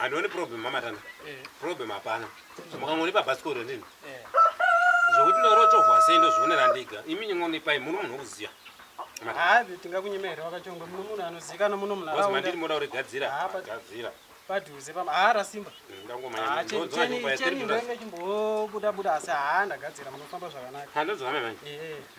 handioni problem mamatana eh. problem hapana makangonipa bhasikoro ndini eh. zvokuti ndorotovwa sei ndozvionera ndiga imi nyongonipai muno munhu wokuziva havi tingakunyima here wakachongwa muno munhu anozikana muno munharaundamandiri moda kurigadzira gadzira padhuze haara simba cheni ndoinge chimbobuda buda asi haa ndagadzira munofamba zvakanaka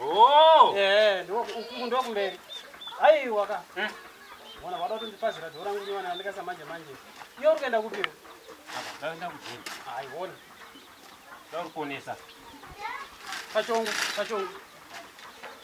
Oh! Eh, ndo uku ndo kumberi. Ai waka. Eh? Mwana wada kuti ndipazira dora nguva nywana andika samanje manje. Iyo uri kuenda kupi? Apa ndaenda kujini. Ai wona. Ndauri kuonesa. Pachongo, pachongo.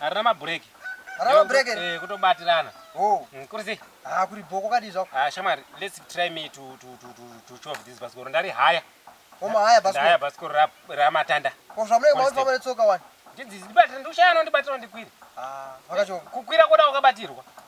Harina mabreak. Harina mabreak here? Eh, kutobatirana. Oh. Mm, kuri sei? Ah, kuri bhoko kadi zvako. Ah, shamwari, let's try me to to to to to chove this basikoro. Ndari haya. Koma haya basikoro. Haya basikoro ra ra matanda. Ko zvamule mwa mfamba letsoka wani. Ndidzi ndibatira ndushaya no ndibatira ndikwira. Ah, vakacho. Kukwira koda wakabatirwa.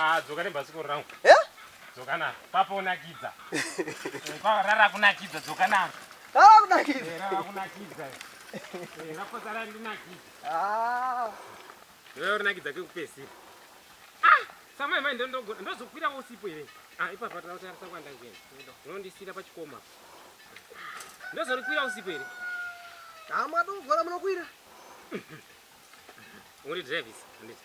Ah, dzoka nebhasikoro rangu. Eh? Dzoka naro. Papa unakidza. Papa rara kunakidza dzoka naro. Rara kunakidza. Eh, rara kunakidza. Eh, raposa rari kunakidza. Ah. Wewe unakidza kekupesi. Ah, samai mai ndo ndo ndozokwira usipo here. Ah, ipa pata uta rasa kwanda ngene. Ndo ndisira pa chikoma. Ndo zorikwira usipo here. Ah, mwa ndo gora munokwira. Uri drive is. Ndita.